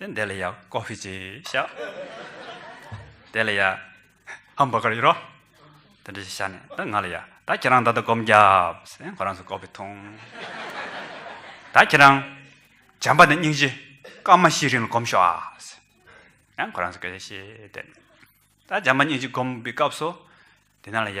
དེ་འདས་ལ་ཡ་ཀོ་ཧྥི་ཅི་ཤ་དེ་ལ་ཡ་ཧམ་བྷ་གར་ཡོད་རོ་དེ་འདྲ་ཤ་ནས་ད་ང་ལ་ཡ་ད་ཁྱེད་རང་ད་ད་གོམ་རྒྱབ་སེ་ཁོ་རང་སུ་ཀོ་ཧྥི་ཐུང་ད་ཁྱེད་རང་བྱམས་པ་ནས་སྙིང་རྗེ་སྐར་མ་ཤི་རིང་ལ་གོམ་ཤོག་ཨ་སེ་ཡང་ཁོ་རང་སུ་ཀེ་ཤེ་དེ་ནས་ད་བྱམས་པ་སྙིང་རྗེ་གོམ་པའི་སྐབས་སུ་དེ་ན་ལ་ཡ་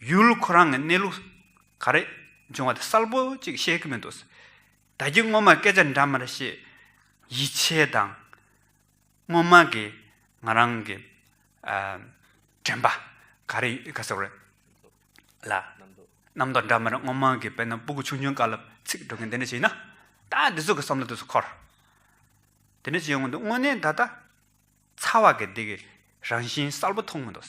ཡུལ་ཁོ་རང་གི་གནས་ལུགས་ག་རེ་འབྱུང་བ་དེ་གསལ་པོ་གཅིག་ཤེས་ཀྱི་མི་འདུག། ད་ཀྱི་སྔོན་མ་སྐད་ཆ་འདྲ་མར་བཤད། ཡིད་ཆེས་དང། སྔོན་མ་གི་ང་རང་གི་དྲན་པ་ག་རེ་ག་ཟེ་བ་རེད། ལ། རྣམ་རྟོག་འདྲ་མར་སྔོན་མ་གི་དཔེར་ན་སྤུ་གུ་ཆུང་ཆུང་དཀར་ལ་ཚིག་སྒྲོག་མཁན་དེ་འདྲ་ཞིག་ཡིན་ན། ད་འདི་ཚོ་གི་བསམ་བློ་དེ་ཚོ་འཁོར། དེ་འདྲ་ཞིག་ཡོང་གི་འདུག་དངོས་གནས་ད་ལྟ། ཚ་བ་གི་འདི་གི་རང་བཞིན་གསལ་པོ་མཐོང་མི་འདུག།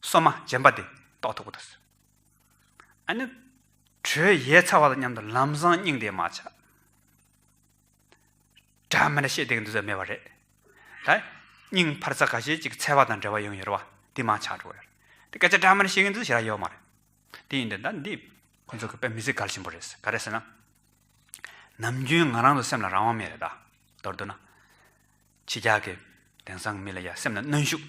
སོ་མ་སྦྱིན་པ་དེ་རྟོགས་ཐུབ་པ་དང། ཨ་ནི། དྲོད་ཡལ་ཚ་བ་དང་མཉམ་དུ་ལམ་བཟང་སྙིང་དེ་མ་ཆགས། སྒྲ་མི་སྣ་ཤེས་བདེ་གི་འདུ་ཚད་མེད་པ་རེད། ད། སྙིང་འཕར་ཚ་ག་ཤེད་ཅིག་ཚལ་བ་དང་འབྲེལ་བ་ཡང་ཡོད་རེད་བ། དེ་མ་ཆགས་འགྲོ་བ་ཡོད་རེད། དེ་སྐད་ཆ་སྒྲ་མི་སྣ་ཤེས་གི་འདུ་ཚད་ཞེ་རག་ཡོད་མ་རེད། དེ་ཡིན་དུས་ད་འདི། ཁོ་ཚོ་གི་དཔེ་མི་ཚེ་གལ་ཆེན་པོ་རེད། ག་རེད་ཟེར་ན། ནམ་རྒྱུན་ང་རང་ཚོ་སེམས་ལ་རང་དབང་མེད་རེད་ད། མདོར་བསྡུ་ན། ཕྱི་རྒྱལ་གི། དེང་སང་གི་མི་ལ་ཡ་སེམས་ལ་གནོན་ཤུགས།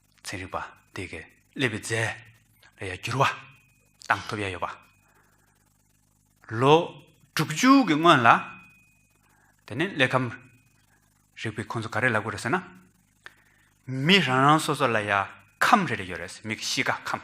ཚན་རིག་པ་དེ་གའི་ཀླད་པའི་རྫས་ལ་ཡང་འགྱུར་བ་བཏང་ཐུབ་ཡ་ཡོད་པ། ལོ་དྲུག་ཅུ་གི་སྔོན་ལ་དེ་ནི་ཀླད་ཁམས་རིག་པའི་ཁོང་ཚོ་ག་རེ་ལབ་དགོས་རེད་ཟེར་ན། མི་རང་རང་སོ་སོ་ལ་ཡང་ཁམས་རེ་རེ་ཡོད་རེད། མིག་གཤིས་ཀ་ཁམས།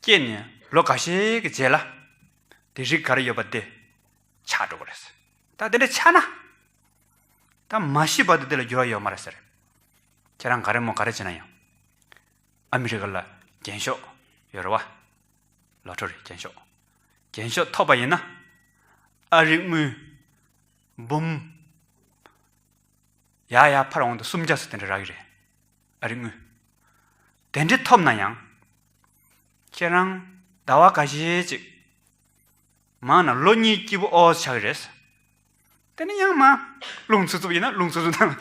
སྐྱེས་ནས་ལོ་འགའ་ཤས་ཀྱི་རྗེས་ལ། དེ་རིགས་གར་ཡོད་པ་དེ་ཆགས་འགྲོ་བ་རེད། ད་དེ་འདྲ་ཆགས་ན། ད་མ་ཤི་བར་དུ་དེ་ལ་འགྱུར་བ་ཡོད་མ་རེད་ཟེར། ཁྱེད་རང་ག་རེ་མོ་ག་རེ་བྱས་ན་ཡང། ཨ་མི་རི་ཀ་ལ་རྒྱན་ཤོག་ཡོད་རེད་བ། ལོ་ཐོ་རེད་རྒྱན་ཤོག། རྒྱན་ཤོག་ཐོབ་པ་ཡིན་ན། ཨ་རིག་དངུལ། འབུམ། ཡག་ཡག་ཕར་འོང་དུ་སུམ་བརྒྱ་སོ་དེ་འདྲ་རག་གི་རེད། ཨ་རི་དངུལ། དེ་འདྲི་ཐོབ་ན་ཡང། ཁྱེད་རང། ཟླ་བ་ག་ཞེ་གཅིག། མང་ན་ལོ་གཉིས་སྐྱིད་པོ་ཨོ་ཆགས་ཀྱི་རེད། དེ་ནས་ཡང་མང། རླུང་འཚུབ་འཚུབ་ཡིན་ན་རླུང་འཚུབ་འཚུབ་ན།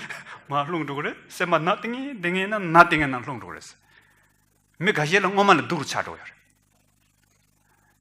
མང་རླུང་འགྲོ་གི་རེད། སེམས་པ་ནག་ཏིང་ཏིང་ངེ་ན་ནག་ཏིང་ངེ་ན་རླུང་འགྲོ་གི་རེད། མི་ག་ཞེ་ལ་སྔོན་མ་ལ་སྡུག་རུ་ཆགས་འགྲོ་གི་ཡོད་རེད།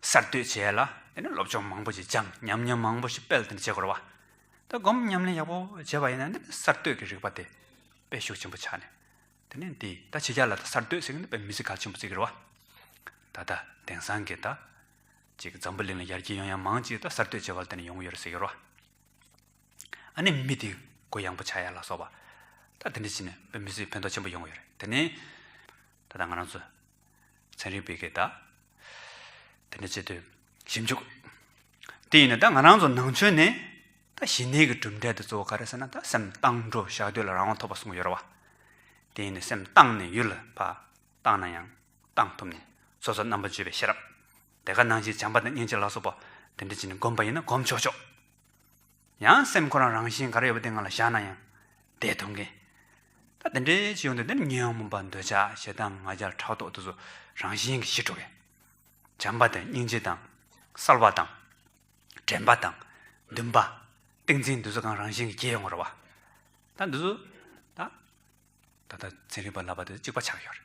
གསར་གཏོད་བྱས་ལ་དེ་ནས་སློབ་སྦྱོང་མང་པོ་ཞིག་སྦྱངས་ཉམས་མྱོང་མང་པོ་ཞིག་སྤེལ་ཏེ་མཇལ་སྐོར་བ་ད་སྒོམ་ཉམས་ལེན་ཡག་པོ་བྱས་པ་ཡིན་ན་འདི་ནི་གསར་གཏོད་ཀྱི་རིག་པ་དེ་སྤེལ་ཤུགས་ཆེན་པོ་ཆགས་ནས་དེ་ནས་འདི་ད་ཕྱི་རྒྱལ་ལ་ད་གསར་གཏོད་ཟེར་གི་འདུག་པས་མི་ཚེ་གལ་ཆེན་པོ་བརྩི་གི་རེད་བ། ད་ལྟ་དེང་སང་གི་ད་ཅིག་འཛམ་བུ་གླིང་ལ་ཡར་རྒྱས་ཡོང་ཡང་མང་ཅིག་ད་གསར་གཏོད་བྱས་པ་ལ་བརྟེན་ནས་ཡོང་གི་ཡོད་རེད་ཟེར་གི་རེད་བ། ཨ་ནི་མི་དེ་གོ་ཡང་པོ་ཆགས་ཡ་ལ་སོགས་པ། ད་དེ་འདྲ་བྱས་ནས་དཔེ་མི་ཚེ་ཕན་ཐོགས་ཆེན་པོ་ཡོང་གི་ཡོད་རེད་དེ་ནི། ད་ད་ང་རང་ཚོ། ཚན་རིག་པས་ཀྱིས་ད་དེ་འདྲ་བྱེད་དུས་ཞིབ་འཇུག་དེ་ཡིན་ན་ད་ང་རང་ཚོ་ནང་ཆོས་ནི་ད་གཞི་ནས་ཀྱི་གྲུབ་འབྲས་དེ་གཙོ་བོ་ག་རེད་ཟེར་ན་ད་སེམས་གཏང་འགྲོ་བཞག་དུས་ལ་རང་དབང་ཐོབ་པ་གསུངས་ཀྱི་ཡོད་རེད་བ། དེ་ཡིན་ནས་སེམས་གཏང་ནས་ཡུལ་ལ་བབས་གཏང་ན་ཡང་གཏང་ཐུབ་ནས་སོ་སོ་རྣམ་པ་བརྗོད་པའི་ཤེས་རབ་དེ་ག་ནང་བཞིན་བྱམས་པ་དང་སྙིང་རྗེ་ལ་སོགས་པ་དེ་འདྲ་བྱས་ནས་སྒོམ་པ་ཡིན་ན་སྒོམ་ཆོག་ཆོག། ཡང་སེམས་ཁོ་རང་རང་བཞིན་ག་རེ་ཡོད་པ་དེ་ང་ལ་བཞག་ན་ཡང་བདེ་ཐུབ་མཁན། ད་དེ་འདྲའི་ཅི་ཡོང་འདོད་དེ་ནི་ཉོན་མོངས་པ་འདོད་ཆགས་ཞེ་སྡང་ང་རྒྱལ་ཕྲག་དོག་དུ་སོ་རང་བཞིན་གྱིས་ཞི་འགྲོ་བས། བྱམས་པ་དང་སྙིང་རྗེ་དང། གསལ་བ་དང། དྲན་པ་དང། འདུན་པ། ཏིང་འཛིན་འདི་ཚོ་གང་རང་བཞིན་གྱིས་སྐྱེ་ཡོང་བར་བ། ད་འདི་ཚོ། ད། ད་ལྟ་ཚན་རིག་པ་ལབ་པ་དེ་ཚོ་གཅིག་པ་ཆགས་ཡོད་རེད།